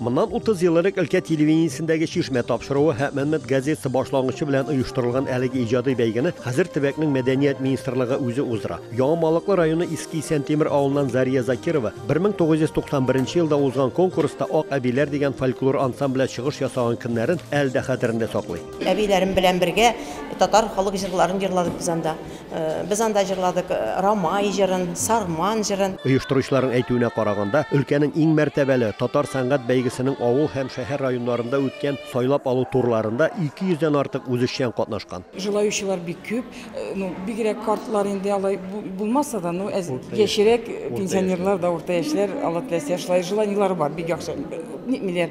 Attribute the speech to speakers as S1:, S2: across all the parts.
S1: Моннан 30 ел элек өлкә телевидениесендәге Чишмә тапшыруы һәм Мәнмәт газетасы башлангычы белән оештырылган әлеге иҗади бәйгене хәзер төбәкнең мәдәният министрлыгы үзе уздыра. Яңа Малыклы районы Иске Исәнтимер авылыннан Зария Закирова 1991 елда узган конкурста Ак әбиләр дигән фольклор ансамбле чыгыш ясаган көннәрен әле дә хәтерендә саклый. Әбиләрем белән бергә
S2: татар халык җырларын җырладык без анда. Без анда җырладык Рамай җырын, Сарман җырын. Оештыручыларның әйтүенә
S1: караганда, өлкәнең иң мәртәбәле Татар сәнгать бәйгесенең авыл һәм шәһәр районнарында үткән сайлап алу турларында 200 дән артык үзешчән катнашкан. Җылаючылар бик
S3: күп. Ну, бигрәк картлар инде алай булмаса да, ну, әз яшьрәк пенсионерлар да, урта яшьләр, Алла теләсә, шулай җыланулар бар, бик яхшы ник миләр.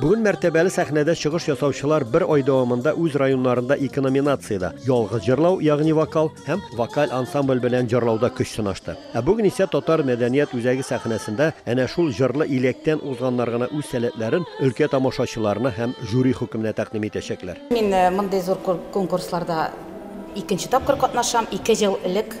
S1: Бүген мәртәбәле сәхнәдә чыгыш ясаучылар бер ай дәвамында үз районнарында ике номинациядә, ялгыз җырлау, ягъни вокал һәм вокаль ансамбль белән җырлауда көч сынашты. Ә бүген исә Татар мәдәният үзәге сәхнәсендә әнә шул җырлы иләктән узганнар гына үз сәләтләрен өлкә тамашачыларына һәм жюри хөкеменә тәкъдим итәчәкләр. Мин мондый зур
S4: конкурсларда икенче тапкыр катнашам. Ике ел элек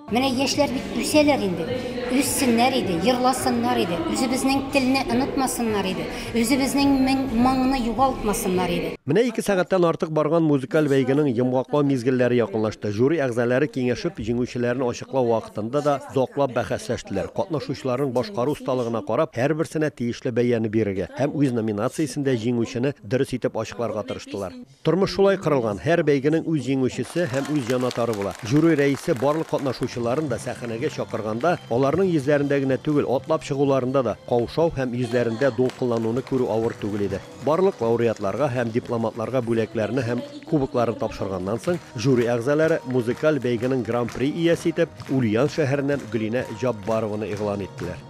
S5: Менә яшьләр бит
S6: үсәләр инде. Үссеннәр иде, җырласыннар иде, үзебезнең телне онытмасыннар иде, үзебезнең моңны югалтмасыннар иде. Менә ике сәгатьтән
S1: артык барган музыкаль бәйгенең йомгаклау мизгелләре якынлашты. Жюри әгъзалары киңәшеп, җиңүчеләрне ачыклау вакытында да заклап бәхәсләштеләр. Катнашучыларның башкару осталыгына карап, һәрберсенә тиешле бәяне бирергә һәм үз номинациясендә җиңүчене дөрес итеп ачыкларга тырыштылар. Тормыш шулай корылган, һәр бәйгенең үз җиңүчесе һәм үз җанатары була. Жюри рәисе барлык катнашучыларын да сәхәнәгә чакырганда, аларның йөзләрендә генә түгел, атлап чыгуларында да каушау һәм йөзләрендә дулкынлануны күрү авыр түгел иде. Барлык лауреатларга һәм дипломатларга бүләкләрне һәм кубокларын тапшырганнан соң, жюри әгъзалары музыкаль бәйгенең Гран-при иясе итеп Ульян шәһәреннән Гөлинә Җаббарованы игълан иттеләр.